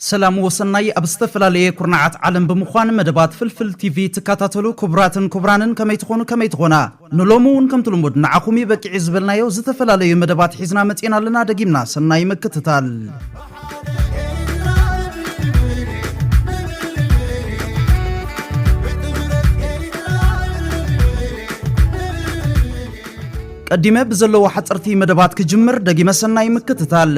ሰላም ወሰናይ ኣብ ዝተፈላለየ ኩርናዓት ዓለም ብምዃን መደባት ፍልፍል ቲቪ ትካታተሉ ኩቡራትን ኩቡራንን ከመይ ትኾኑ ከመይ ትኾና ንሎሚ ውን ከምቲ ልሙድ ንዓኹም ዩ በቂዒ ዝበልናዮ ዝተፈላለዩ መደባት ሒዝና መጺእና ኣለና ደጊምና ሰናይ ምክትታል። ቀዲመ ብዘለዎ ሓጸርቲ መደባት ክጅምር ደጊመ ሰናይ ምክትታል።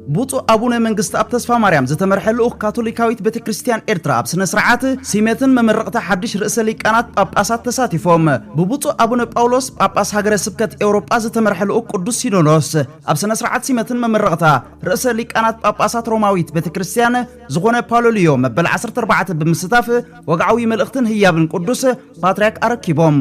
ብፁዕ ኣቡነ መንግስተኣብ ተስፋማርያም ዝተመርሐ ልኡኽ ካቶሊካዊት ቤተ ክርስቲያን ኤርትራ ኣብ ስነ ስርዓት ሲመትን መመረቕታ ሓድሽ ርእሰ ሊቃናት ጳጳሳት ተሳቲፎም። ብብፁዕ ኣቡነ ጳውሎስ ጳጳስ ሃገረ ስብከት ኤውሮጳ ዝተመርሐ ልኡኽ ቅዱስ ሲኖዶስ ኣብ ስነ ስርዓት ሲመትን መመረቕታ ርእሰ ሊቃናት ጳጳሳት ሮማዊት ቤተ ክርስቲያን ዝኾነ ፓሎ ልዮ መበል ዓሰርተ ኣርባዕተ ብምስታፍ ወግዓዊ መልእኽትን ህያብን ቅዱስ ፓትርያርክ ኣረኪቦም።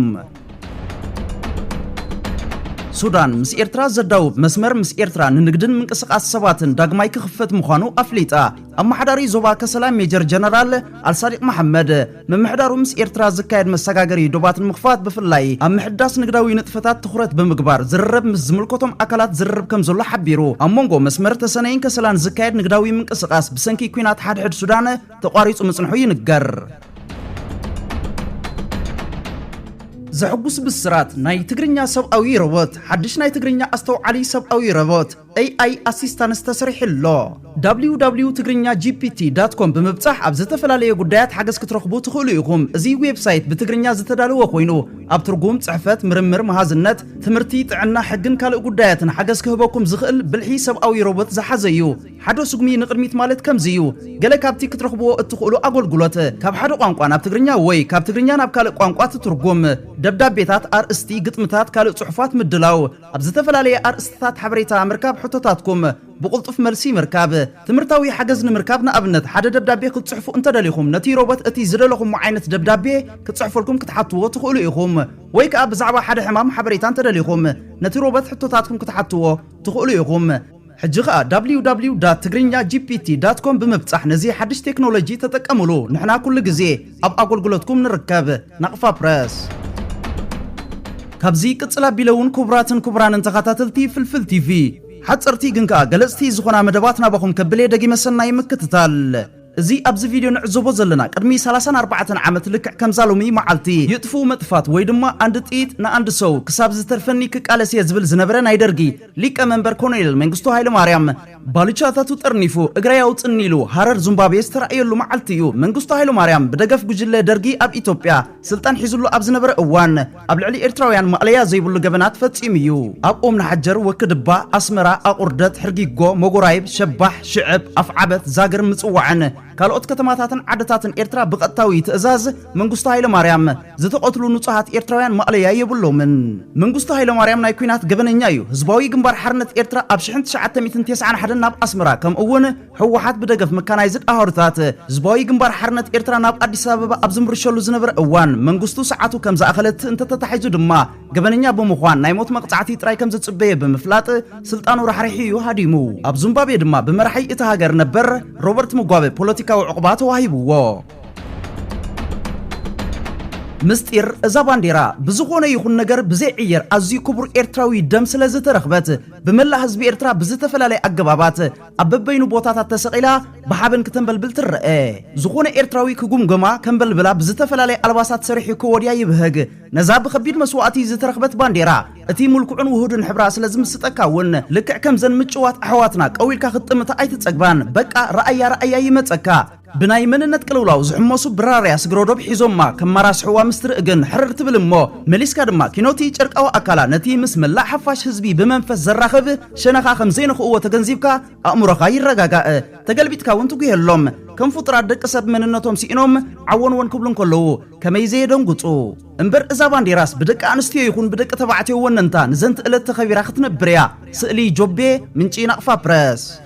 ሱዳን ምስ ኤርትራ ዘዳውብ መስመር ምስ ኤርትራ ንንግድን ምንቅስቓስ ሰባትን ዳግማይ ክኽፈት ምዃኑ ኣፍሊጣ። ኣመሓዳሪ ዞባ ከሰላ ሜጀር ጀነራል ኣልሳዲቅ መሓመድ ምምሕዳሩ ምስ ኤርትራ ዝካየድ መሰጋገሪ ዶባት ንምኽፋት ብፍላይ ኣብ ምሕዳስ ንግዳዊ ንጥፈታት ትኹረት ብምግባር ዝርርብ ምስ ዝምልከቶም ኣካላት ዝርርብ ከም ዘሎ ሓቢሩ። ኣብ መንጎ መስመር ተሰነይን ከሰላን ዝካየድ ንግዳዊ ምንቅስቓስ ብሰንኪ ኲናት ሓድሕድ ሱዳን ተቋሪጹ ምጽንሑ ይንገር። ዘሕጉስ ብስራት! ናይ ትግርኛ ሰብኣዊ ሮቦት፣ ሓድሽ ናይ ትግርኛ ኣስተውዓሊ ሰብኣዊ ሮቦት፣ AI Assistance፣ ተሰሪሑ ኣሎ። www.tigrinyaGPT.com ብምብጻሕ ኣብ ዝተፈላለየ ጉዳያት ሓገዝ ክትረኽቡ ትኽእሉ ኢኹም። እዚ ዌብሳይት ብትግርኛ ዝተዳለወ ኮይኑ፣ ኣብ ትርጉም፣ ጽሕፈት፣ ምርምር፣ መሃዝነት፣ ትምህርቲ፣ ጥዕና፣ ሕግን ካልእ ጉዳያትን ሓገዝ ክህበኩም ዝኽእል ብልሒ ሰብኣዊ ሮቦት ዝሓዘ እዩ። ሓዶ ስጉሚ ንቕድሚት ማለት ከምዚ እዩ። ገለ ካብቲ ክትረኽብዎ እትኽእሉ ኣጎልጉሎት፣ ካብ ሓደ ቋንቋ ናብ ትግርኛ ወይ ካብ ትግርኛ ናብ ካልእ ቋንቋ ትትርጉም፣ ደብዳቤታት፣ ኣርእስቲ፣ ግጥምታት፣ ካልእ ጽሑፋት ምድላው፣ ኣብ ዝተፈላለየ ኣርእስትታት ሓበሬታ ምርካብ፣ ሕቶታትኩም ብቕልጡፍ መልሲ ምርካብ፣ ትምህርታዊ ሓገዝ ንምርካብ ንኣብነት ሓደ ደብዳቤ ክትጽሕፉ እንተደሊኹም ነቲ ሮቦት እቲ ዝደለኹሞ ዓይነት ደብዳቤ ክጽሕፈልኩም ክትሓትዎ ትኽእሉ ኢኹም። ወይ ከኣ ብዛዕባ ሓደ ሕማም ሓበሬታ እንተደሊኹም ነቲ ሮቦት ሕቶታትኩም ክትሓትዎ ትኽእሉ ኢኹም። ሕጂ ከኣ ww ዳት ትግርኛ gpt ዳት ኮም ብምብጻሕ ነዚ ሓድሽ ቴክኖሎጂ ተጠቀምሉ ንሕና ኩሉ ግዜ ኣብ ኣጎልጉሎትኩም ንርከብ ናቅፋ ፕረስ። ካብዚ ቅጽል ኣቢለ ውን ኩቡራትን ኩቡራንን ተኻታተልቲ ፍልፍል ቲቪ ሓጸርቲ ግን ከኣ ገለጽቲ ዝኾና መደባት ናባኹም ከብል እየ ደጊመ ሰናይ ምክትታል። እዚ ኣብዚ ቪድዮ ንዕዘቦ ዘለና ቅድሚ ሰላሳን ኣርባዕተን ዓመት ልክዕ ከምዛ ሎሚ መዓልቲ ይጥፍኡ መጥፋት ወይ ድማ ኣንድ ጥይት ንኣንድ ሰው ክሳብ ዝተርፈኒ ክቃለስ እየ ዝብል ዝነበረ ናይ ደርጊ ሊቀ መንበር ኮሎኔል መንግስቱ ሃይለማርያም ባልቻታቱ ጠርኒፉ እግረይ ኣውፅኒ ኢሉ ሃረር ዙምባቤ ዝተራእየሉ መዓልቲ እዩ። መንግስቱ ሃይለማርያም ብደገፍ ጉጅለ ደርጊ ኣብ ኢትዮጵያ ስልጣን ሒዙሉ ኣብ ዝነበረ እዋን ኣብ ልዕሊ ኤርትራውያን ማእለያ ዘይብሉ ገበናት ፈጺሙ እዩ። ኣብ ኦም ንሓጀር፣ ወክድባ፣ ኣስመራ፣ ኣቑርደት፣ ሕርጊጎ፣ መጎራይብ፣ ሸባሕ፣ ሽዕብ፣ ኣፍዓበት፣ ዛግር፣ ምጽዋዕን ካልኦት ከተማታትን ዓድታትን ኤርትራ ብቐጥታዊ ትእዛዝ መንግስቱ ሃይለማርያም ዝተቐትሉ ንጹሃት ኤርትራውያን ማእለያ የብሎምን። መንግስቱ ሃይለማርያም ናይ ኲናት ገበነኛ እዩ። ህዝባዊ ግንባር ሓርነት ኤርትራ ኣብ ሽሕን ትሽዓተ ሚእትን ቴስዓን ሓደን ናብ ኣስመራ ከምኡ'ውን ህወሓት ብደገፍ መካናይዝድ ኣሃዱታት ህዝባዊ ግንባር ሓርነት ኤርትራ ናብ ኣዲስ ኣበባ ኣብ ዝምርሸሉ ዝነበረ እዋን መንግስቱ ሰዓቱ ከም ዝኣኸለት እንተተታሒዙ ድማ ገበነኛ ብምዃን ናይ ሞት መቕጻዕቲ ጥራይ ከም ዝጽበዮ ብምፍላጥ ስልጣኑ ራሕሪሑ እዩ ሃዲሙ። ኣብ ዙምባቤ ድማ ብመራሒ እታ ሃገር ነበር ሮበርት ሙጓበ ፖለቲካዊ ዕቑባ ተዋሂብዎ። ምስጢር እዛ ባንዴራ ብዝኾነ ይኹን ነገር ብዘይዕየር ኣዝዩ ክቡር ኤርትራዊ ደም ስለዝተረኽበት ብመላእ ህዝቢ ኤርትራ ብዝተፈላለየ ኣገባባት ኣብ በበይኑ ቦታታት ተሰቒላ ብሓበን ክተንበልብል ትረኣ። ዝኾነ ኤርትራዊ ክጉምጎማ፣ ከንበልብላ ብዝተፈላለየ ኣልባሳት ሰሪሑ ከወድያ ይብህግ። ነዛ ብኸቢድ መስዋእቲ ዝተረኽበት ባንዴራ፣ እቲ ምልኩዕን ውሁድን ሕብራ ስለ ዝምስጠካ እውን፣ ልክዕ ከምዘን ምጭዋት ኣሕዋትና ቀው ኢልካ ክትጥምታ ኣይትጸግባን። በቃ ርኣያ ርኣያ ይመጸካ። ብናይ መንነት ቅልውላው ዝሕመሱ ብራርያ ስግረዶብ ሒዞማ ከማራስሕዋ ምስ ትርኢ ግን ሕርር ትብል እሞ መሊስካ ድማ ኪኖቲ ጨርቃዊ ኣካላ ነቲ ምስ መላእ ሓፋሽ ህዝቢ ብመንፈስ ዘራኽብ ሸነኻ ከም ዘይነኽእዎ ተገንዚብካ ኣእምሮኻ ይረጋጋእ። ተገልቢጥካ እውን ትጉሄሎም። ከም ፍጡራት ደቂ ሰብ መንነቶም ስኢኖም ዓወንወን ክብሉ እንከለዉ ከመይ ዘየደንጉጹ። እምበር እዛ ባንዴራስ ብደቂ ኣንስትዮ ይኹን ብደቂ ተባዕትዮ ወነንታ ንዘንትእለት ተኸቢራ ክትነብር እያ። ስእሊ፣ ጆቤ፣ ምንጪ ናቕፋ ፕረስ።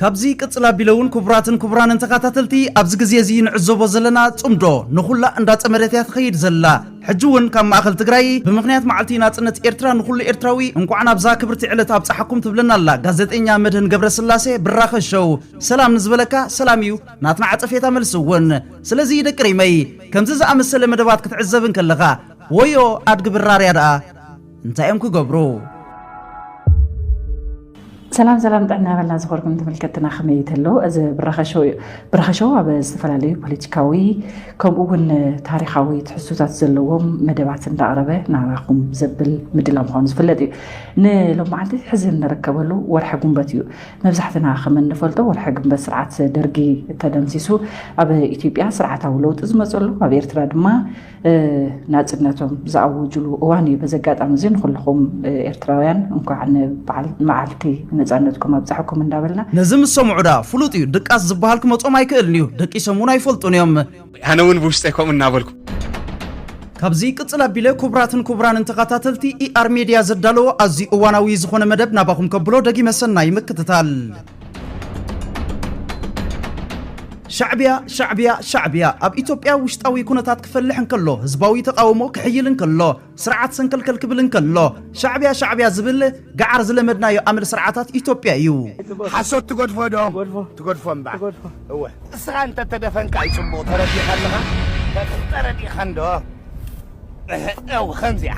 ካብዚ ቅጽል ኣቢለ ውን ኩቡራትን ኩቡራንን ተካታተልቲ ኣብዚ ግዜ እዚ ንዕዘቦ ዘለና ጽምዶ ንኩላ እንዳ ጸመደት እያ ትከይድ ዘላ ሕጂ ውን ካብ ማእከል ትግራይ ብምክንያት ማዓልቲ ናጽነት ኤርትራ ንኩሉ ኤርትራዊ እንቋዕ ናብዛ ክብርቲ ዕለት ኣብጻሓኩም ትብለና ኣላ ጋዘጤኛ መድህን ገብረስላሴ ብራኸ ሸው ሰላም ንዝበለካ ሰላም እዩ ናትና ዓጸፌታ መልሲ ውን ስለዚ ደቂ ሪመይ ከምዚ ዝኣመሰለ መደባት ክትዕዘብ እንከለካ ወዮ ኣድጊ ብራርያ ደኣ እንታይ እዮም ክገብሩ? ሰላም ሰላም ጥዕና በልና ዝኾርኩም ተመልከትና ከመይ ተሎ እዚ ብራኸሸው እዩ ብራኸሸው ኣብ ዝተፈላለዩ ፖለቲካዊ ከምኡ እውን ታሪካዊ ትሕዝቶታት ዘለዎም መደባት እንዳቕረበ ናባኹም ዘብል ምድላ ምዃኑ ዝፍለጥ እዩ ንሎም መዓልቲ ሕዚ እንርከበሉ ወርሒ ጉንበት እዩ መብዛሕትና ከም እንፈልጦ ወርሒ ግንበት ስርዓት ደርጊ ተደምሲሱ ኣብ ኢትዮጵያ ስርዓታዊ ለውጢ ዝመፀሉ ኣብ ኤርትራ ድማ ናፅነቶም ዝኣወጅሉ እዋን እዩ። በዚ ኣጋጣሚ እዚ ንኩልኹም ኤርትራውያን እንኳዕ ንመዓልቲ ነፃነትኩም ኣብፀሐኩም እንዳበልና ነዚ ምስ ሰምዑ ደኣ ፍሉጥ እዩ ድቃስ ዝበሃል ክመጾም ኣይክእልን እዩ ደቂሶም እውን ኣይፈልጡን እዮም። ኣነ ውን ብውሽጠይ ከምኡ እናበልኩ። ካብዚ ይቅጽል ኣቢለ ኩቡራትን ኩቡራንን ተኻታተልቲ ER Media ዘዳለዎ ኣዝዩ እዋናዊ ዝኾነ መደብ ናባኹም ከብሎ ደጊመ ሰናይ ምክትታል። ሻዕብያ ሻዕብያ ሻዕብያ ኣብ ኢትዮጵያ ውሽጣዊ ኩነታት ክፈልሕ እንከሎ ህዝባዊ ተቃውሞ ክሕይል እንከሎ ስርዓት ሰንከልከል ክብል እንከሎ ሻዕብያ ሻዕብያ ዝብል ገዓር ዝለመድናዮ ኣመል ስርዓታት ኢትዮጵያ እዩ ሓሶት ትገድፎ ዶ ትገድፎ እምባ እወ እስኻ እንተተደፈንካ ይፅቡቕ ተረዲኻ ኣለኻ ተረዲኻ እንዶ እው ከምዚኣ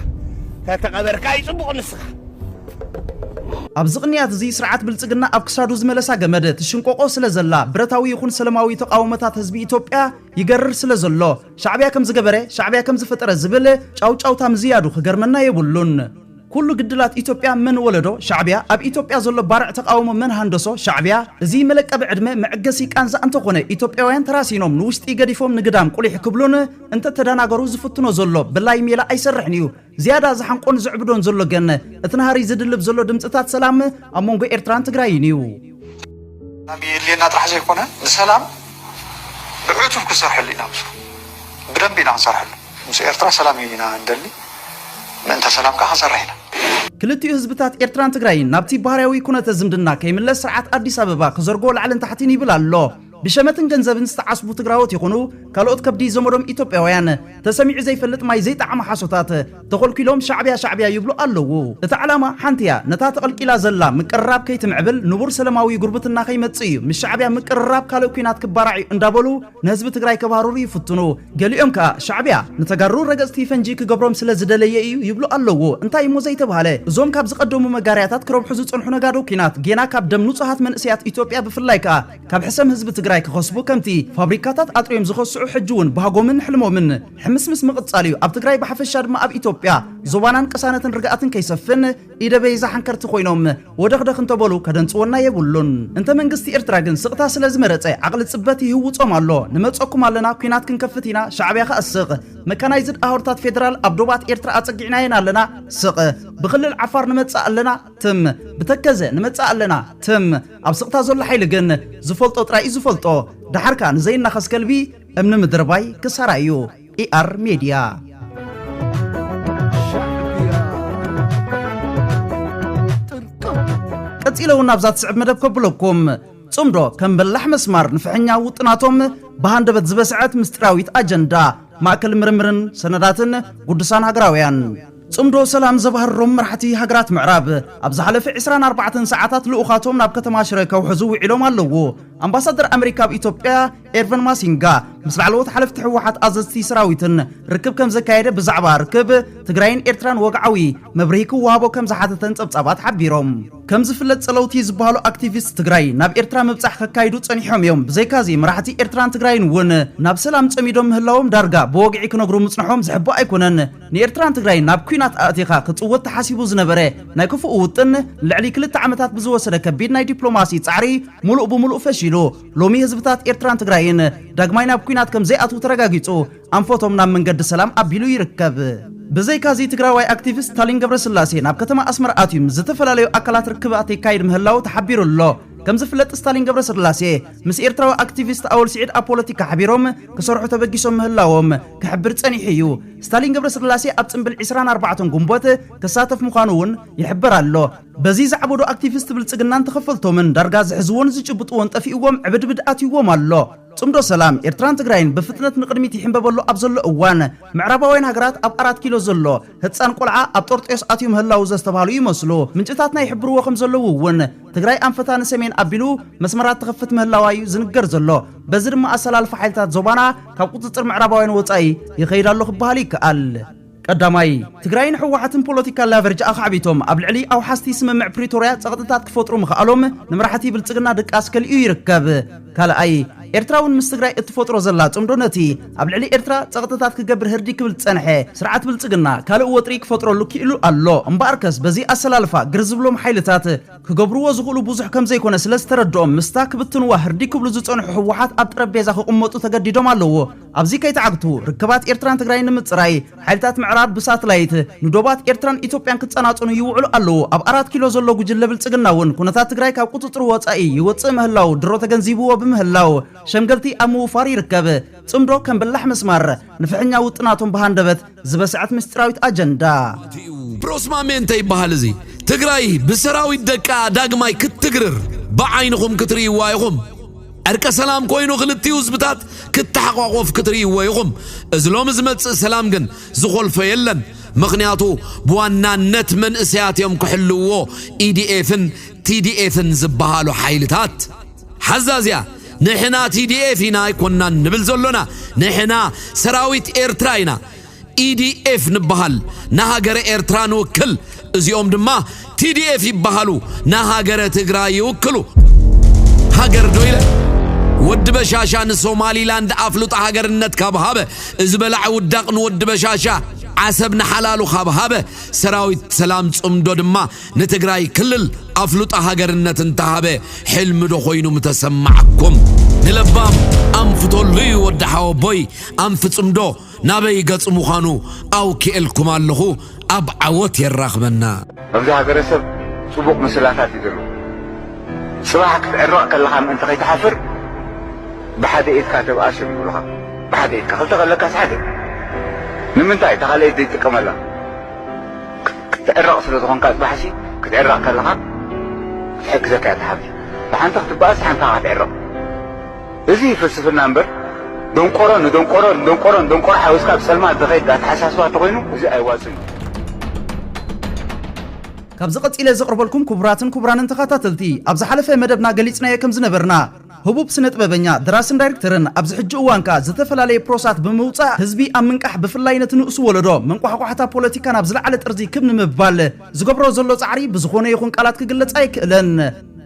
ተተቐበርካ እዩ ጽቡቕ ንስኻ። ኣብዚ ቅንያት እዚ ስርዓት ብልጽግና ኣብ ክሳዱ ዝመለሳ ገመድ ትሽንቆቆ ስለ ዘላ ብረታዊ ይኹን ሰለማዊ ተቃውሞታት ህዝቢ ኢትዮጵያ ይገርር ስለ ዘሎ ሻዕቢያ ከምዚ ገበረ ሻዕቢያ ከምዚ ፈጠረ ዝብል ጫውጫውታ ምዝያዱ ክገርመና የብሉን። ኩሉ ግድላት ኢትዮጵያ መን ወለዶ? ሻዕቢያ። ኣብ ኢትዮጵያ ዘሎ ባርዕ ተቃውሞ መን ሃንደሶ? ሻዕቢያ። እዚ መለቀቢ ዕድመ መዕገሲ ቃንዛ እንተኾነ ኢትዮጵያውያን ተራሲኖም ንውሽጢ ገዲፎም ንግዳም ቁሊሕ ክብሉን እንተተዳናገሩ ዝፍትኖ ዘሎ ብላይ ሜላ ኣይሰርሕን እዩ። ዝያዳ ዝሓንቆን ዝዕብዶን ዘሎ ገን እቲ ናህሪ ዝድልብ ዘሎ ድምፅታት ሰላም ኣብ መንጎ ኤርትራን ትግራይን እዩ። ሰላም የድልየና ጥራሕ ዘይኮነ ንሰላም ብዕቱብ ክንሰርሐሉ ኢና ምስኡ ብደንቢ ኢና ክንሰርሐሉ። ምስ ኤርትራ ሰላም እዩ ኢና እንደሊ ምእንተ ሰላም ከኣ ክንሰርሕ ኢና። ክልቲኡ ህዝብታት ኤርትራን ትግራይን ናብቲ ባህርያዊ ኩነተ ዝምድና ከይምለስ ስርዓት ኣዲስ ኣበባ ክዘርጎ ላዕልን ታሕቲን ይብል ኣሎ። ብሸመትን ገንዘብን ዝተዓስቡ ትግራዎት ይኹኑ ካልኦት ከብዲ ዘመዶም ኢትዮጵያውያን ተሰሚዑ ዘይፈልጥ ማይ ዘይጠዓሞ ሓሶታት ተኾልኲሎም ሻዕቢያ ሻዕቢያ ይብሉ ኣለዉ። እቲ ዓላማ ሓንቲ እያ፣ ነታ ተቐልቂላ ዘላ ምቅርራብ ከይትምዕብል ንቡር ሰለማዊ ጉርብትና ከይመጽእ እዩ። ምስ ሻዕቢያ ምቅርራብ ካልእ ኲናት ክባራዕ እዩ እንዳበሉ ንህዝቢ ትግራይ ከባርሩ ይፍትኑ። ገሊኦም ከኣ ሻዕቢያ ንተጋሩ ረገጽቲ ፈንጂ ክገብሮም ስለ ዝደለየ ኢዩ ይብሉ ኣለዉ እንታይ ኢሞ ዘይተባህለ እዞም ካብ ዝቀደሙ መጋርያታት ክረብሑ ዝጸንሑ ነጋዶ ኩናት ጌና ካብ ደም ንጹሃት መንእሰያት ኢትዮጵያ ብፍላይ ከኣ ካብ ሕሰም ህዝቢ ትግራይ ክኸስቡ ከምቲ ፋብሪካታት ኣጥርዮም ዝኸስዑ ሕጂ ውን ባህጎምን ሕልሞምን ሕምስምስ ምቅጻል ኢዩ ኣብ ትግራይ ብሓፈሻ ድማ ኣብ ኢትዮጵያ ዞባናን ቅሳነትን ርግኣትን ከይሰፍን ኢደበይ ዝሓንከርቲ ኮይኖም ወደኽደኽ እንተበሉ ከደንጽወና የብሉን። እንተ መንግስቲ ኤርትራ ግን ስቕታ ስለ ዝመረጸ ዓቕሊ ጽበት ይህውጾም ኣሎ። ንመጸኩም ኣለና ኩናት ክንከፍት ኢና ሻዕብያ ከኣ ስቕ። መካናይዝድ ኣውርታት ፌደራል ኣብ ዶባት ኤርትራ ኣጸጊዕናየን ኣለና ስቕ። ብክልል ዓፋር ንመጽእ ኣለና ትም። ብተከዘ ንመጽእ ኣለና ትም። ኣብ ስቕታ ዘሎ ሓይሊ ግን ዝፈልጦ ጥራይ እዩ ዝፈልጦ። ደሓር ከኣ ንዘይናኸስ ከልቢ እምኒ ምድርባይ ክሳራ እዩ። ER Media. ቀጺለ እውን ኣብዛ ትስዕብ መደብ ከብለኩም ጽምዶ ከም በላሕ መስማር ንፍሕኛ ውጥናቶም ብሃንደበት ዝበስዐት ምስጢራዊት ኣጀንዳ ማእከል ምርምርን ሰነዳትን ጉዱሳን ሃገራውያን ጽምዶ ሰላም ዘባህሮም መራሕቲ ሃገራት ምዕራብ ኣብ ዝሓለፈ 24 ሰዓታት ልኡኻቶም ናብ ከተማ ሽረ ከውሕዙ ውዒሎም ኣለዉ ኣምባሳደር ኣመሪካ ኣብ ኢትዮጵያ ኤርቨን ማሲንጋ ምስ ላዕለዎት ሓለፍቲ ህወሓት ኣዘዝቲ ሰራዊትን ርክብ ከም ዘካየደ ብዛዕባ ርክብ ትግራይን ኤርትራን ወግዓዊ መብርሂ ክወሃቦ ከም ዝሓተተን ጸብጻባት ሓቢሮም። ከም ዝፍለጥ ጸለውቲ ዝበሃሉ ኣክቲቪስት ትግራይ ናብ ኤርትራ ምብጻሕ ከካይዱ ጸኒሖም እዮም፣ ብዘይካዚ መራሕቲ ኤርትራን ትግራይን እውን ናብ ሰላም ጸሚዶም ምህላዎም ዳርጋ ብወግዒ ክነግሩ ምጽንሖም ዝሕባእ ኣይኮነን። ንኤርትራን ትግራይን ናብ ኲናት ኣእቲኻ ክጽወት ተሓሲቡ ዝነበረ ናይ ክፉእ ውጥን ልዕሊ ክልተ ዓመታት ብዝወሰደ ከቢድ ናይ ዲፕሎማሲ ጻዕሪ ምሉእ ብምሉእ ፈሺሉ። ሎሚ ህዝብታት ኤርትራን ትግራይን ዳግማይ ናብ ኲናት ከም ዘይኣትዉ ተረጋጊጹ ኣንፈቶም ናብ መንገዲ ሰላም ኣቢሉ ይርከብ። ብዘይካዚ ትግራዋይ ኣክቲቪስት ስታሊን ገብረስላሴ ናብ ከተማ ኣስመራ ኣትዩ ምስ ዝተፈላለዩ ኣካላት ርክባት የካይድ ምህላዉ ተሓቢሩ ኣሎ። ከም ዝፍለጥ ስታሊን ገብረስላሴ ምስ ኤርትራዊ ኣክቲቪስት ኣወል ሲዒድ ኣብ ፖለቲካ ሓቢሮም ክሰርሑ ተበጊሶም ምህላዎም ክሕብር ጸኒሑ እዩ። ስታሊን ገብረስላሴ ኣብ ጽንብል ዕስራን ኣርባዕተን ጉንቦት ክሳተፍ ምዃኑ እውን ይሕበር ኣሎ። በዚ ዘዕበዱ ኣክቲቪስት ብልጽግናን ተኸፈልቶምን ዳርጋ ዝሕዝዎን ዝጭብጥዎን ጠፊእዎም ዕብድብድ ኣትይዎም ኣሎ። ጽምዶ ሰላም ኤርትራን ትግራይን ብፍጥነት ንቕድሚት ይሕምበበሉ ኣብ ዘሎ እዋን፣ ምዕራባውያን ሃገራት ኣብ ኣራት ኪሎ ዘሎ ህጻን ቆልዓ ኣብ ጦርጦዮስ ኣትዩ ምህላዉ ዘስተብሃሉ ይመስሉ። ምንጭታትና ይሕብርዎ ከም ዘለዉ እውን፣ ትግራይ ኣንፈታ ንሰሜን ኣቢሉ መስመራት ትኸፍት ምህላዋ እዩ ዝንገር ዘሎ። በዚ ድማ ኣሰላልፋ ሓይልታት ዞባና ካብ ቁጽጽር ምዕራባውያን ወጻኢ ይኸይድ ኣሎ ክበሃል ይከኣል። ቀዳማይ፣ ትግራይን ህወሓትን ፖለቲካል ላቨርጅ ኣኻዕቢቶም ኣብ ልዕሊ ኣውሓስቲ ስምምዕ ፕሪቶርያ ፀቕጥታት ክፈጥሩ ምኽኣሎም ንመራሕቲ ብልፅግና ድቃስ ከሊኡ ይርከብ። ካልኣይ፣ ኤርትራ እውን ምስ ትግራይ እትፈጥሮ ዘላ ፅምዶ ነቲ ኣብ ልዕሊ ኤርትራ ፀቕጥታት ክገብር ህርዲግ ክብል ዝፀንሐ ስርዓት ብልፅግና ካልእ ወጥሪ ክፈጥረሉ ክኢሉ ኣሎ። እምበኣርከስ በዚ ኣሰላልፋ ግር ዝብሎም ሓይልታት ክገብርዎ ዝኽእሉ ብዙሕ ከምዘይኮነ ስለዝተረድኦም ምስታ ክብትንዋ ህርዲግ ክብሉ ዝፀንሑ ህወሓት ኣብ ጠረጴዛ ክቕመጡ ተገዲዶም ኣለዉ። ኣብዚ ከይተዓግቱ ርክባት ኤርትራን ትግራይን ንምጽራይ ሓይልታት ምዕራብ ብሳትላይት ንዶባት ኤርትራን ኢትዮጵያን ክጸናጸኑ ይውዕሉ ኣለዉ። ኣብ ኣራት ኪሎ ዘሎ ጉጅለ ብልጽግና'ውን ኩነታት ትግራይ ካብ ቁጽጽሩ ወጻኢ ይወጽእ ምህላዉ ድሮ ተገንዚብዎ ብምህላው ሸምገልቲ ኣብ ምውፋር ይርከብ። ጽምዶ ከም በላሕ መስማር ንፍሕኛ ውጥናቶም ብሃንደበት ዝበስዐት ምስጢራዊት ኣጀንዳ! ፕሮስማሜ እንተይበሃል እዚ ትግራይ ብሰራዊት ደቃ ዳግማይ ክትትግርር ብዓይንኹም ክትርእይዋ ኢኹም። ዕርቀ ሰላም ኮይኑ ክልቲኡ ህዝብታት ክተሓቋቆፍ ክትርእይዎ ኢኹም። እዚ ሎሚ ዝመጽእ ሰላም ግን ዝኾልፎ የለን። ምኽንያቱ ብዋናነት መንእሰያት እዮም ክሕልውዎ ኢዲኤፍን ቲዲኤፍን ዝበሃሉ ሓይልታት። ሐዛ እዚኣ ንሕና ቲዲኤፍ ኢና ኣይኮናን ንብል ዘሎና ንሕና ሰራዊት ኤርትራ ኢና ኢዲኤፍ ንበሃል ንሃገረ ኤርትራ ንውክል እዚኦም ድማ ቲዲኤፍ ይበሃሉ ንሃገረ ትግራይ ይውክሉ ሃገር ዶ ኢለ ወዲ በሻሻ ንሶማሊላንድ ኣፍልጦ ሃገርነት ካብ ሃበ እዚ በላዕ ውዳቕ ንወዲ በሻሻ ዓሰብ ንሓላሉ ካብ ሃበ ሰራዊት ሰላም ጽምዶ ድማ ንትግራይ ክልል ኣፍልጦ ሃገርነት እንተሃበ ሕልሚ ዶ ኮይኑ ምተሰማዓኩም? ንለባም ኣንፍተሉ ዩ ወዲ ሓወቦይ ኣንፍጽምዶ ናበይ ገጽ ምዃኑ ኣውኪኤልኩም ኣለኹ ኣብ ዓወት የራኽበና። ኣብዚ ሃገረሰብ ጽቡቕ ምስላታት እዩ ዘሎ። ጽባሕ ክትዕረቕ ከለኻ ምእንቲ ከይትሓፍር ብሓደ ኢድካ ተብኣስ እዮም ዝብሉኻ። ብሓደ ኢድካ ክልተ ከለካስ ሓደ ንምንታይ እታ ካልኣይቲ ዘይትጥቀመላ? ክትዕረቕ ስለ ዝኾንካ ጽባሕሲ ክትዕረቕ ከለኻ ክትሕግዘካ እያ እታ ሓብቲ ብሓንቲ ክትበኣስ ሓንቲ ከኣ ክትዕረቕ እዚ ፍልስፍና እምበር ደንቆሮ ንደንቆሮ ንደንቆሮ ንደንቆሮ ሓዊስካ ብጸልማት ዝኸይድ ኣተሓሳስባ እንተኾይኑ እዚ ኣይዋጽን እዩ። ካብዚ ቀጺለ ዘቕርበልኩም ክቡራትን ክቡራንን ተኻታተልቲ ኣብ ዝሓለፈ መደብና ገሊጽናዮ ከም ዝነበርና፣ ህቡብ ስነጥበበኛ፣ ደራስን ዳይርክተርን፣ ኣብዚ ሕጂ እዋን ከኣ ዝተፈላለየ ፕሮሳት ብምውጻእ ህዝቢ ኣብ ምንቃሕ ብፍላይ ነቲ ንኡስ ወለዶ መንቋሕቋሕታ ፖለቲካ ናብ ዝለዓለ ጥርዚ ክብ ንምባል ዝገብሮ ዘሎ ጻዕሪ ብዝኾነ ይኹን ቃላት ክግለጽ ኣይክእልን።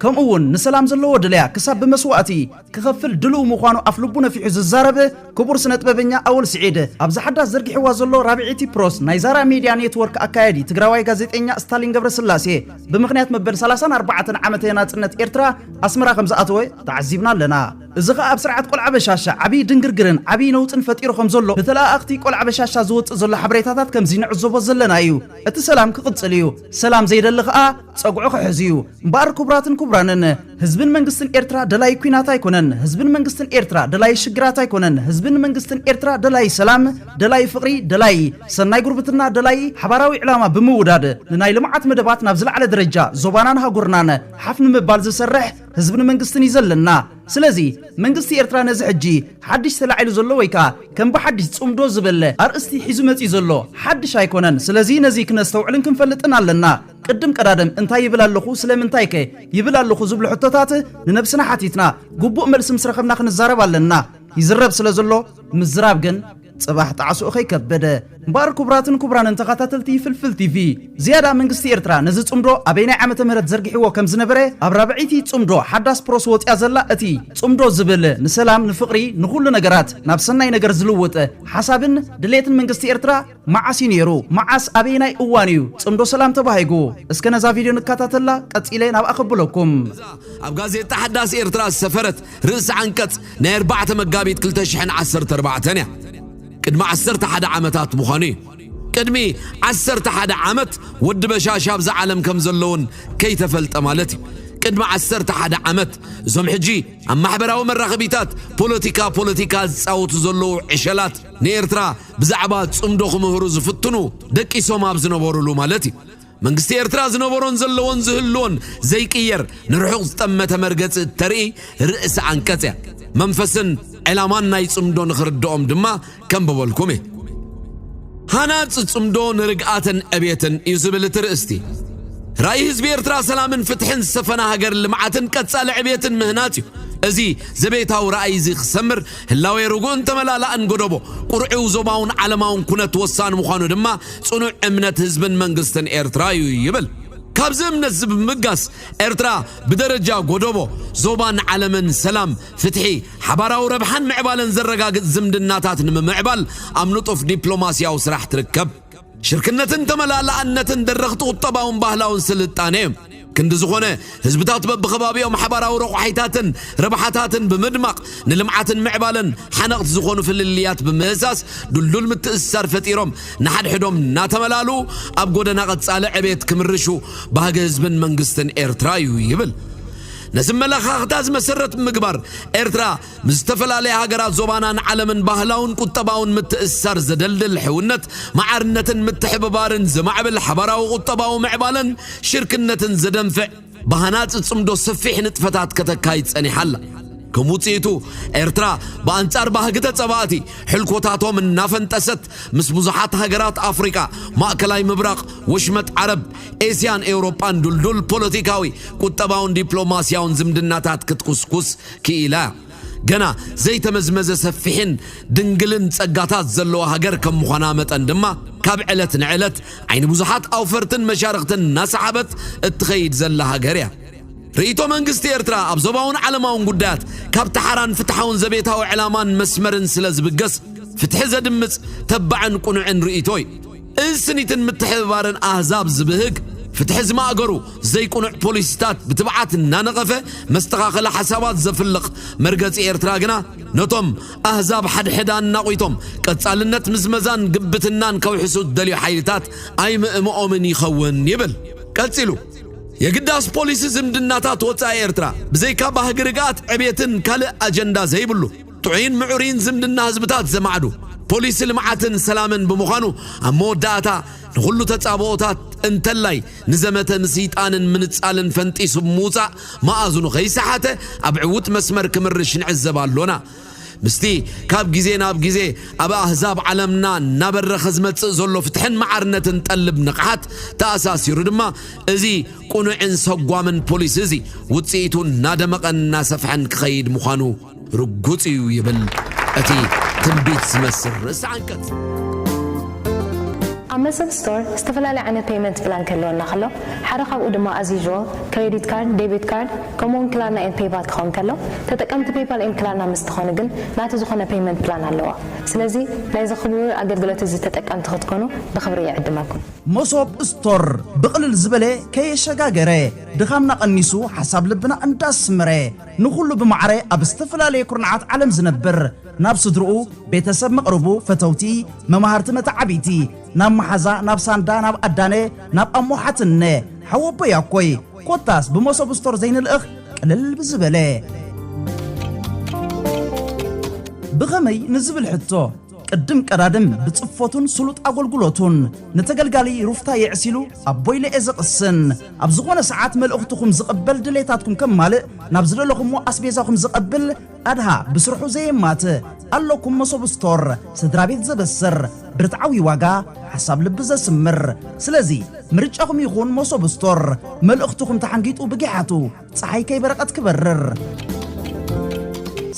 ከምኡ'ውን ንሰላም ዘለዎ ድልያ ክሳብ ብመስዋእቲ ክኸፍል ድሉው ምዃኑ ኣፍልቡ ነፊሑ ዝዛረብ ክቡር ስነጥበበኛ ኣወል ስዒድ ኣብዛ ሓዳስ ዘርጊሕዋ ዘሎ ራብዒቲ ፕሮስ ናይ ዛራ ሚድያ ኔትወርክ ኣካያዲ ትግራዋይ ጋዜጠኛ ስታሊን ገብረስላሴ ብምኽንያት መበል 34 ዓመተ ናጽነት ኤርትራ ኣስመራ ከም ዝኣተወ ተዓዚብና ኣለና። እዚ ኸኣ ኣብ ስርዓት ቆልዓ በሻሻ ዓብዪ ድንግርግርን ዓብዪ ነውጽን ፈጢሩ ከም ዘሎ ብተለኣኣኽቲ ቆልዓ በሻሻ ዝወጽእ ዘሎ ሓበሬታታት ከምዚ ንዕዘቦ ዘለና እዩ። እቲ ሰላም ክቕጽል እዩ። ሰላም ዘይደሊ ኸኣ ጸጉዑ ክሕዝ እዩ እምበኣር ክቡራትን ክቡራንን ህዝብን መንግስትን ኤርትራ ደላይ ኩናት ኣይኮነን ህዝብን መንግስትን ኤርትራ ደላይ ሽግራት ኣይኮነን ህዝብን መንግስትን ኤርትራ ደላይ ሰላም ደላይ ፍቕሪ ደላይ ሰናይ ጉርብትና ደላይ ሓባራዊ ዕላማ ብምውዳድ ንናይ ልምዓት መደባት ናብ ዝለዓለ ደረጃ ዞባናን ሃጉርናን ሓፍ ንምባል ዝሰርሕ ህዝብን መንግስትን እዩ ዘለና ስለዚ መንግስቲ ኤርትራ ነዚ ሕጂ ሓድሽ ተላዒሉ ዘሎ ወይ ከኣ ከም ብሓድሽ ጽምዶ ዝብል ኣርእስቲ ሒዙ መጺኡ ዘሎ ሓድሽ ኣይኮነን ስለዚ ነዚ ክነስተውዕልን ክንፈልጥን ኣለና ቅድም ቀዳድም እንታይ ይብል ኣለኹ ስለምንታይ ከ ይብል ኣለኹ ዝብሉ ሕቶታት ንነብስና ሓቲትና ግቡእ መልሲ ምስ ረኸብና ክንዛረብ ኣለና ይዝረብ ስለ ዘሎ ምዝራብ ግን ጽባሕ ጣዕስኡ ከይከበደ እምበኣር ክቡራትን ክቡራንን ተኸታተልቲ ፍልፍል ቲቪ ዝያዳ መንግስቲ ኤርትራ ነዚ ጽምዶ ኣበይናይ ዓመተ ምህረት ዘርጊሕዎ ከም ዝነበረ ኣብ ራብዐይቲ ጽምዶ ሓዳስ ፕሮስ ወጽያ ዘላ እቲ ጽምዶ ዝብል ንሰላም ንፍቕሪ ንኹሉ ነገራት ናብ ሰናይ ነገር ዝልውጥ ሓሳብን ድሌትን መንግስቲ ኤርትራ መዓስ እዩ ነይሩ? መዓስ ኣበየናይ እዋን እዩ ጽምዶ ሰላም ተባሂጉ? እስከ ነዛ ቪድዮ ንከታተላ ቀጺለ ናብኣ ከብለኩም። እዛ ኣብ ጋዜጣ ሓዳስ ኤርትራ ዝሰፈረት ርእሰ ዓንቀጽ ናይ ኣርባዕተ መጋቢት ክልተ ሽሕን ዓሰርተ ኣርባዕተን እያ። ቅድሚ ዓሰርተ ሓደ ዓመታት ምዃኑ እዩ። ቅድሚ ዓሰርተ ሓደ ዓመት ወዲ በሻሻ ኣብዛ ዓለም ከም ዘሎ እውን ከይተፈልጠ ማለት እዩ። ቅድሚ ዓሰርተ ሓደ ዓመት እዞም ሕጂ ኣብ ማሕበራዊ መራኸቢታት ፖለቲካ ፖለቲካ ዝጻወቱ ዘለዉ ዕሸላት ንኤርትራ ብዛዕባ ጽምዶ ክምህሩ ዝፍትኑ ደቂሶም ኣብ ዝነበሩሉ ማለት እዩ። መንግስቲ ኤርትራ ዝነበሮን ዘለዎን ዝህልዎን ዘይቅየር ንርሑቕ ዝጠመተ መርገጺ እተርኢ ርእሲ ዓንቀጽ እያ። መንፈስን ዕላማን ናይ ጽምዶ ንኽርድኦም ድማ ከንብበልኩም እየ። ሃናጽ ጽምዶ ንርግኣትን ዕብየትን እዩ ዝብል እቲ ርእስቲ። ራእይ ህዝቢ ኤርትራ ሰላምን ፍትሕን ዝሰፈና ሃገር ልምዓትን ቀጻሊ ዕብየትን ምህናጽ እዩ። እዚ ዘቤታዊ ራእይ እዚ ክሰምር ህላዌ ርጉእን ተመላላእን ጎደቦ ቁርዒው ዞባውን ዓለማውን ኩነት ወሳኒ ምዃኑ ድማ ጽኑዕ እምነት ህዝብን መንግስትን ኤርትራ እዩ ይብል። ካብዚ እምነት እዚ ብምብጋስ ኤርትራ ብደረጃ ጎደቦ፣ ዞባን ዓለምን ሰላም፣ ፍትሒ፣ ሓባራዊ ረብሓን ምዕባለን ዘረጋግጽ ዝምድናታት ንምምዕባል ኣብ ንጡፍ ዲፕሎማስያዊ ስራሕ ትርከብ። ሽርክነትን ተመላላኣነትን ደረኽቲ ቁጠባውን ባህላውን ስልጣኔ እዮም። ክንዲ ዝኾነ ህዝብታት በብኸባቢኦም ሓባራዊ ረቋሒታትን ረብሓታትን ብምድማቕ ንልምዓትን ምዕባለን ሓነቕቲ ዝኾኑ ፍልልያት ብምህሳስ ድልዱል ምትእስሳር ፈጢሮም ንሓድሕዶም እናተመላልኡ ኣብ ጎደና ቀጻሊ ዕቤት ክምርሹ ባህጊ ህዝብን መንግስትን ኤርትራ እዩ ይብል። ነዚ ኣመለኻኽታ እዚ መሰረት ብምግባር ኤርትራ ምስ ዝተፈላለያ ሃገራት ዞባናን ዓለምን ባህላውን ቁጠባውን ምትእስሳር ዘደልድል ሕውነት፣ ማዕርነትን ምትሕብባርን ዘማዕብል ሓባራዊ ቁጠባዊ ምዕባለን ሽርክነትን ዘደንፍዕ ብሃናጺ ጽምዶ ሰፊሕ ንጥፈታት ከተካይድ ጸኒሓ ኣላ። ከም ውጽኢቱ ኤርትራ ብኣንጻር ባህጊ ተጸባእቲ ሕልኮታቶም እናፈንጠሰት ምስ ብዙሓት ሃገራት ኣፍሪቃ፣ ማእከላይ ምብራቕ፣ ወሽመጥ ዓረብ፣ ኤስያን ኤውሮጳን ድልዱል ፖለቲካዊ፣ ቁጠባውን ዲፕሎማስያውን ዝምድናታት ክትኩስኩስ ክኢላ፣ ገና ዘይተመዝመዘ ሰፊሕን ድንግልን ጸጋታት ዘለዋ ሃገር ከም ምዃና መጠን ድማ ካብ ዕለት ንዕለት ዓይኒ ብዙሓት ኣውፈርትን መሻርኽትን እናሰሓበት እትኸይድ ዘላ ሃገር እያ። ርእይቶ መንግስቲ ኤርትራ ኣብ ዞባውን ዓለማውን ጉዳያት ካብ ተሓራን ፍትሓውን ዘቤታዊ ዕላማን መስመርን ስለ ዝብገስ ፍትሒ ዘድምጽ ተባዕን ቁኑዕን ርእይቶ እዩ። እዚ ስኒትን ምትሕብባርን ኣህዛብ ዝብህግ ፍትሒ ዝማእገሩ ዘይቁኑዕ ፖሊሲታት ብትብዓት እናነቐፈ መስተኻኸሊ ሓሳባት ዘፍልቕ መርገጺ ኤርትራ ግና ነቶም ኣህዛብ ሓድሕድ ኣናቑቶም ቀጻልነት ምዝመዛን ግብትናን ከውሕሱ ዝደልዩ ሓይልታት ኣይምእምኦምን ይኸውን ይብል ቀጺሉ። የግዳስ ፖሊሲ ዝምድናታት ወጻኢ ኤርትራ ብዘይካ ባህጊ ርግኣት ዕብየትን ካልእ ኣጀንዳ ዘይብሉ፣ ጥዑይን ምዑርይን ዝምድና ህዝብታት ዘማዕዱ ፖሊሲ ልምዓትን ሰላምን ብምዃኑ ኣብ መወዳእታ ንኹሉ ተጻብኦታት እንተላይ ንዘመተ ምስይጣንን ምንጻልን ፈንጢሱ ብምውጻእ መኣዝኑ ከይሰሓተ ኣብ ዕውት መስመር ክምርሽ ንዕዘብ ኣሎና። ምስቲ ካብ ግዜ ናብ ግዜ ኣብ ኣህዛብ ዓለምና እናበረኸ ዝመጽእ ዘሎ ፍትሕን መዓርነትን ጠልብ ንቕሓት ተኣሳሲሩ ድማ እዚ ቅኑዕን ሰጓምን ፖሊሲ እዚ ውጽኢቱ እናደመቐን እናሰፍሐን ክኸይድ ምዃኑ ርጉጽ እዩ ይብል እቲ ትንቢት ዝመስል ርእሰ ዓንቀጽ። ኣብ መሰል ስቶር ዝተፈላለየ ዓይነት ፔይመንት ፕላን ክህልወና ከሎ፣ ሓደ ካብኡ ድማ ኣዝ ዩዥዋል ክሬዲት ካርድ፣ ዴቢት ካርድ፣ ከምኡ'ውን ክላርና ኤንድ ፔይፓል ክኸውን ከሎ፣ ተጠቀምቲ ፔይፓል ኤንድ ክላርና ምስ ትኾኑ ግን ናቱ ዝኾነ ፔይመንት ፕላን ኣለዎ። ስለዚ ናይዚ ክቡር ኣገልግሎት እዚ ተጠቀምቲ ክትኮኑ ብኽብሪ ይዕድመኩም። መሶብ ስቶር ብቕልል ዝበለ ከየሸጋገረ ድኻምና ቀኒሱ ሓሳብ ልብና እንዳስመረ፣ ንኹሉ ብማዕረ ኣብ ዝተፈላለየ ኩርንዓት ዓለም ዝነብር፣ ናብ ስድርኡ፣ ቤተሰብ መቕርቡ፣ ፈተውቲ፣ መማህርቲ መተዓብይቲ፣ ናብ መሓዛ፣ ናብ ሳንዳ፣ ናብ ኣዳነ፣ ናብ ኣሞ ሓትንነ፣ ሓወቦይ ኣኮይ፣ ኮታስ ብመሶብ ስቶር ዘይንልእኽ ቅልል ብዝበለ። ብኸመይ ንዝብል ሕቶ፣ ቅድም ቀዳድም ብጽፎቱን ስሉጥ ኣጎልጉሎቱን ንተገልጋሊ ሩፍታ የዕሲሉ ኣብ ቦይለኤ ዝቕስን ኣብ ዝኾነ ሰዓት መልእኽትኹም ዝቕበል ድሌታትኩም ከማልእ ናብ ዝደለኹሞ ኣስቤዛኹም ዝቐብል ኣድሃ ብስርሑ ዘየማት ኣለኩም መሶብ ስቶር ስድራቤት ዘበስር ብርትዓዊ ዋጋ ሓሳብ ልቢ ዘስምር ስለዚ ምርጫኹም ይኹን መሶብ ስቶር መልእኽትኹም ተሓንጊጡ ብጊሓቱ ፀሓይ ከይበረቐት ክበርር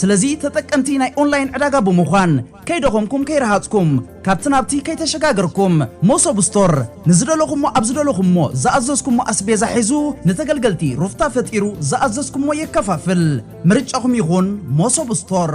ስለዚ ተጠቀምቲ ናይ ኦንላይን ዕዳጋ ብምዃን ከይደኸምኩም ከይረሃፅኩም ካብቲ ናብቲ ከይተሸጋገርኩም መሶብ ስቶር ንዝደለኹሞ ኣብ ዝደለኹሞ ዝኣዘዝኩሞ ኣስቤዛ ሒዙ ንተገልገልቲ ሩፍታ ፈጢሩ ዝኣዘዝኩሞ የከፋፍል ምርጫኹም ይኹን መሶብ ስቶር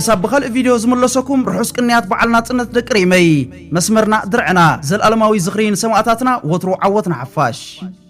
ክሳብ ብኻልእ ቪድዮ ዝምለሰኩም ርሑስ ቅንያት በዓል ናጽነት ደቂ ሪመይ መስመርና ድርዕና ዘልኣለማዊ ዝኽሪ ንሰማእታትና ወትሩ ዓወት ንሓፋሽ